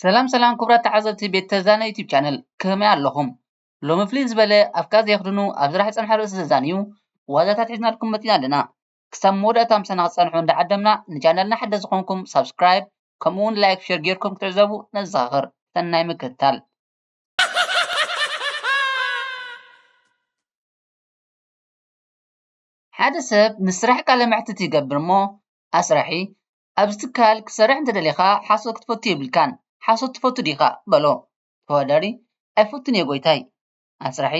ሰላም ሰላም ክቡራት ተዓዘብቲ ቤት ተዛነ ዩቲብ ቻነል ከመይ ኣለኹም? ሎሚ ፍልይ ዝበለ ኣፍካ ዘየኽድኑ ኣብ ዝራሕ ዝፀንሐ ርእሲ ዘዛንዩ ዋዛታት ሒዝናልኩም መፂና ኣለና። ክሳብ መወዳእታ ምሳና ክትጸንሑ እንዳዓደምና ንቻነልና ሓደስቲ ዝኾንኩም ሳብስክራይብ ከምኡ ውን ላይክ ሸር ጌርኩም ክትዕዘቡ ነዘኻኽር። ሰናይ ምክትታል። ሓደ ሰብ ንስራሕ ቃለ መሕትት ይገብር እሞ ኣስራሒ ኣብዚ ትካል ክትሰርሕ እንተደሊኻ ሓሶት ክትፈቱ የብልካን ሓሶት ትፈቱ ዲኻ በሎ። ተወዳዳሪ ኣይፈቱን እየ ጎይታይ። ኣስራሒ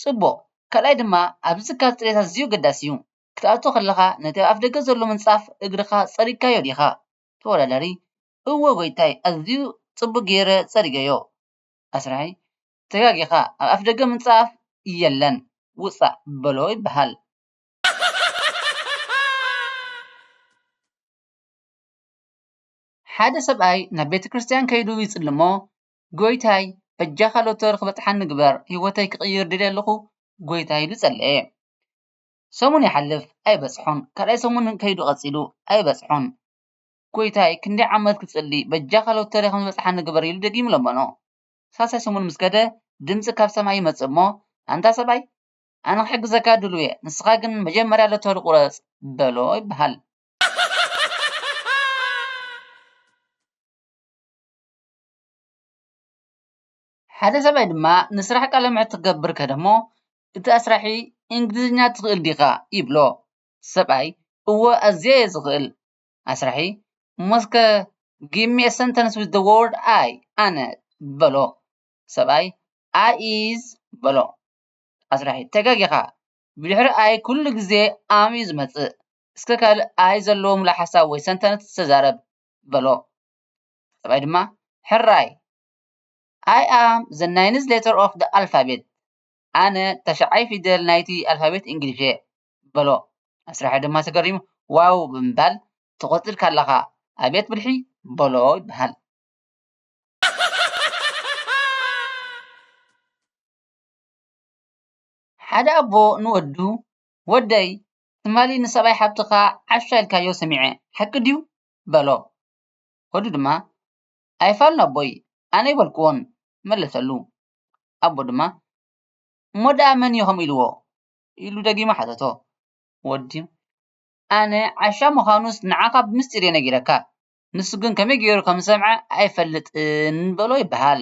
ጽቡቕ ካልኣይ ድማ ኣብዚ ካብ ጽሬት ኣዝዩ ኣገዳሲ እዩ ክትኣቱ ከለኻ ነቲ ኣብ ኣፍደገ ዘሎ ምንጻፍ እግርኻ ጸሪግካዮ ዲኻ ተወዳዳሪ እወ ጎይታይ ኣዝዩ ጽቡቕ ጌረ ጸሪገዮ ኣስራሒ ተጋጊኻ ኣብ ኣፍደገ ምንጻፍ የለን ውጻእ በሎ ይበሃል። ሓደ ሰብኣይ ናብ ቤተ ክርስትያን ከይዱ ይጽሊ እሞ ጎይታይ በጃኻ ሎቶሪ ክበጽሓኒ ግበር ሂወተይ ክቅይር ደልየ ኣለኹ ጎይታይ ኢሉ ጸለየ ሰሙን ይሓልፍ ኣይበጽሖን ካልኣይ ሰሙን ከይዱ ቀጺሉ ኣይበጽሖን ጎይታይ ክንደይ ዓመት ክጽሊ በጃኻ ሎቶሪ ክበጽሓኒ ግበር ኢሉ ደጊሙ ለመኖ ሳልሳይ ሰሙን ምስ ከደ ድምጺ ካብ ሰማይ ይመጽእ እሞ ኣንታ ሰብኣይ ኣነ ክሕግዘካ ድሉው እየ ንስኻ ግን መጀመርያ ሎቶሪ ቁረጽ በሎ ይበሃል። ሓደ ሰብኣይ ድማ ንስራሕ ቃለ መሕትት ክገብር ከደ እሞ እቲ ኣስራሒ እንግሊዝኛ ትኽእል ዲኻ ይብሎ እቲ ሰብኣይ እወ ኣዝየ እየ ዝኽእል ኣስራሒ እሞ እስከ give me a sentence with the word I ኣነ በሎ እቲ ሰብኣይ I is በሎ ኣስራሒ ተጋጊኻ ብድሕሪ I ኩሉ ግዜ am እዩ ዝመፅእ እስከ ካልእ I ዘለዎ ምሉእ ሓሳብ ወይ sentence ተዛረብ በሎ። ጠባይ ድማ ሕራይ I am the ninth letter of the alphabet ኣነ ተሽዓይ ፊደል ናይቲ ኣልፋቤት እንግሊሽ እየ በሎ። ኣስራሒ ድማ ተገሪሙ ዋው ብምባል ትቕጽል ካላኻ ኣብየት ብልሒ በሎ ይበሃል። ሓደ ኣቦ ንወዱ ወደይ ትማሊ ንሰብኣይ ሓብትኻ ዓሻ ኢልካዮ ሰሚዐ ሓቂ ድዩ በሎ። ወዱ ድማ፣ ኣይፋሉን ኣቦይ፣ ኣነይበልኩዎን፣ መለሰሉ። ኣቦ ድማ፣ እሞ ደኣ መንዮ ከምኡ ኢልዎ? ኢሉ ደጊሙ ሓተቶ። ወዲ፣ ኣነ ዓሻ ምዃኑስ ንዓኻ ብምስጢርዮ ነጊረካ፣ ንሱ ግን ከመይ ገይሩ ከም ዝሰምዐ ኣይፈልጥን በሎ ይበሃል።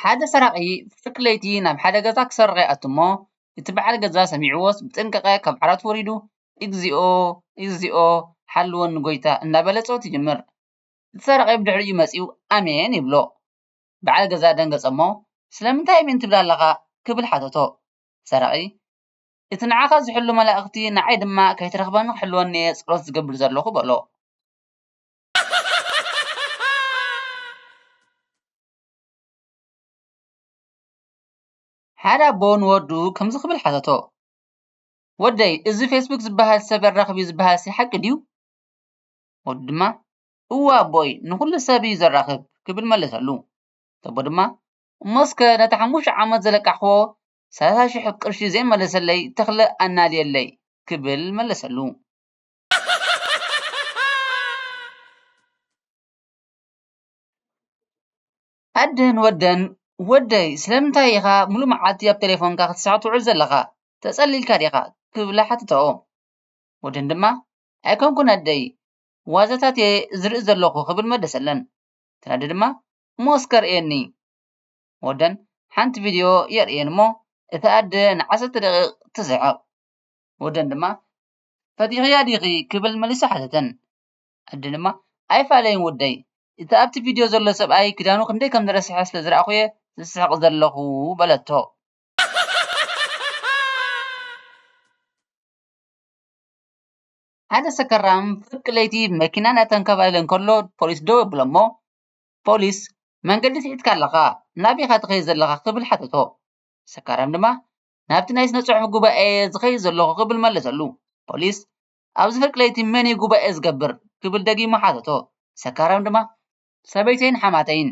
ሓደ ሰራቂ ፍርቂ ለይቲ ናብ ሓደ ገዛ ክሰርቅ ይኣቱ እሞ እቲ በዓል ገዛ ሰሚዕዎስ ብጥንቃቀ ካብ ዓራቱ ወሪዱ እግዚኦ እግዚኦ ሓልወኒ ጎይታ እንዳበለ ጸሎት ይጅምር እቲ ሰራቂ ብድሕሪኡ መጺኡ ኣሜን ይብሎ በዓል ገዛ ደንገጸ እሞ ስለምንታይ ኣሜን ትብል ኣለካ ክብል ሓተቶ ሰራቂ እቲ ንዓኻ ዚሕሉ መላእኽቲ፣ ንዓይ ድማ ከይትረኽበኒ ኺሕልወኒ'የ ጸሎት ዝገብር ዘሎኹ በሎ። ሓደ ኣቦ ንወዱ ከምዚ ኽብል ሓተቶ፣ ወደይ፣ እዚ ፌስቡክ ዚብሃል ሰብ የራኽብ'ዩ ዚብሃልሲ ሓቂ ድዩ? ወዱ ድማ፣ እወ ኣቦይ፣ ንዅሉ ሰብ'ዩ ዜራኽብ ኪብል መለሰሉ። እቲ ኣቦ ድማ፣ እሞ'ስከ ነቲ ሓሙሽተ ዓመት ዘለቃሕክዎ ሰላሳ ሽሕ ቅርሺ ዘይመለሰለይ ተኽለ ኣናድየለይ ክብል መለሰሉ። ኣደን ወደን ወደይ ስለምንታይ ኢኻ ምሉእ መዓልቲ ኣብ ቴሌፎንካ ክትስሕቕ ትውዕል ዘለኻ? ተጸሊልካ ዲኻ? ክብላ ሓተታኦ። ወደን ድማ ኣይኮንኩን ኣደይ ዋዛታት እየ ዝርኢ ዘለኹ ክብል መለሰለን። እተን ኣደ ድማ እሞ እስከ ኣርእየኒ ወደን ሓንቲ ቪድዮ የርእየን እሞ እታ ኣደ ንዓሰርተ ደቒቕ ትስሕቕ። ወደን ድማ ፈቲኽያ ዲኺ ክብል መሊሱ ሓተተን። ኣደ ድማ ኣይፋለይን ወደይ፣ እቲ ኣብቲ ቪድዮ ዘሎ ሰብኣይ ክዳኑ ክንደይ ከም ዝረስሐ ስለ ዝረኣኹ'የ ዝስሕቕ ዘለኹ በለቶ። ሓደ ሰከራም ፍርቂ ለይቲ ብመኪና እናተንከባለለ እንከሎ ፖሊስ ደው የብሎ'ሞ ፖሊስ መንገዲ ስሒትካ ኣለኻ ናበይኻ ትኸይድ ዘለኻ ክብል ሓተቶ። ሰካራም ድማ ናብቲ ናይ ስነ-ጽሑፍ ጉባኤ'የ ዝኸይድ ዘለኹ ክብል መለሰሉ። ፖሊስ ኣብዚ ፍርቂ ለይቲ መን'ዩ ጉባኤ ዝገብር? ክብል ደጊሙ ሓተቶ። ሰካራም ድማ ሰበይተይን ሓማተይን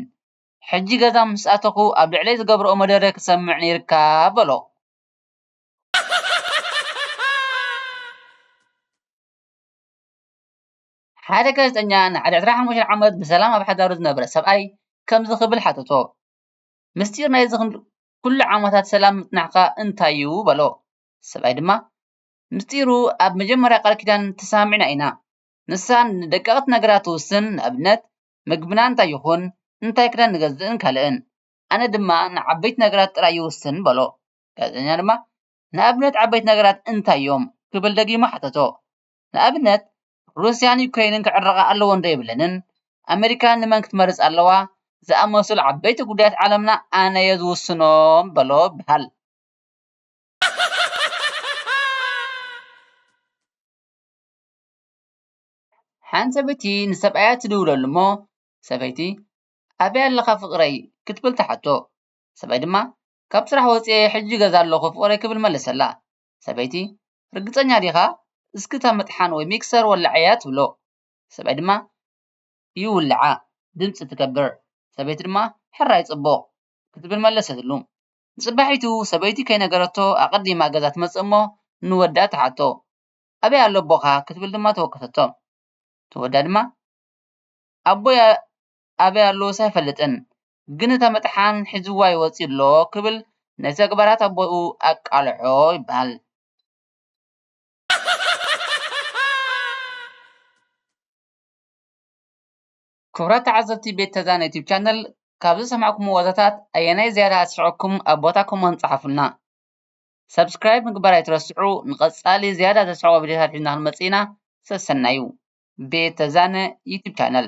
ሕጂ ገዛ ምስ ኣተኹ ኣብ ልዕለይ ዝገብርኦ መደረ ክትሰምዕ ነይርካ በሎ። ሓደ ጋዜጠኛ ንዓል ዕስራን ሓሙሽተን ዓመት ብሰላም ኣብ ሓዳሩ ዝነበረ ሰብኣይ ከምዚ ክብል ሓተቶ፣ ምስጢር ናይዚ ዅሉ ዓመታት ሰላም ምጽናሕካ እንታይ'ዩ? በሎ። ሰብኣይ ድማ፣ ምስጢሩ ኣብ መጀመርያ ቃል ኪዳን ተሰማሚዕና ኢና። ንሳ ንደቀቕቲ ነገራት ትውስን፣ ንኣብነት ምግብና እንታይ ይዅን፣ እንታይ ክዳን ንገዝእን ካልእን። ኣነ ድማ ንዓበይቲ ነገራት ጥራይ ይውስን በሎ። ጋዜጠኛ ድማ፣ ንኣብነት ዓበይቲ ነገራት እንታይ'ዮም? ክብል ደጊሙ ሓተቶ። ንኣብነት ሩስያን ዩክረይንን ክዕረቓ ኣለወን ዶ የብለንን፣ ኣመሪካ ንመን ክትመርጽ ኣለዋ ዝኣመሰሉ ዓበይቲ ጉዳያት ዓለምና ኣነ'የ ዝውስኖ በሎ ይበሃል። ሓንቲ ሰበይቲ ንሰብኣያ ትድውለሉ'ሞ ሰበይቲ ኣበይ ኣለኻ ፍቕረይ ክትብል ትሓቶ፣ ሰብኣይ ድማ ካብ ስራሕ ወጺኤ ሕጂ ገዛ ኣለኹ ፍቕረይ ክብል መለሰላ። ሰበይቲ፣ ርግጸኛ ዲኻ? እስኪ እታ መጥሓን ወይ ሚክሰር ወላዕያ ትብሎ። ሰብኣይ ድማ ይውልዓ ድምጺ ትገብር፣ ሰበይቲ ድማ ሕራይ ጽቡቕ ክትብል መለሰትሉ። ንጽባሒቱ ሰበይቲ ከይነገረቶ ኣቐዲማ ገዛ ትመጽእ እሞ ንወዳ ትሓቶ፣ ኣበይ ኣሎ ኣቦኻ? ክትብል ድማ ተወከሰቶ። እቲ ወዳ ድማ ኣቦይ ኣበይ ኣለዎስ ኣይፈልጥን፣ ግን እታ መጥሓን ሒዝዋ ይወፅእ ኣሎ ክብል ንተግባራት ኣቦኡ ኣቃልዖ ይበሃል። ክቡራት ተዓዘብቲ ቤት ተዛን ዩቱብ ቻነል ካብ ዝሰማዕኩሞ ዋዛታት ኣየናይ ዝያዳ ኣስሒቐኩም ኣብ ቦታ ኮመንት ፀሓፉልና። ሳብስክራይብ ምግባር ኣይትረስዑ ንቐፃሊ ዝያዳ ዘስሕቑ ቪድዮታት ሒዝና ክንመፅእ ኢና ሰሰናዩ። ቤት ተዛነ ዩቱብ ቻነል።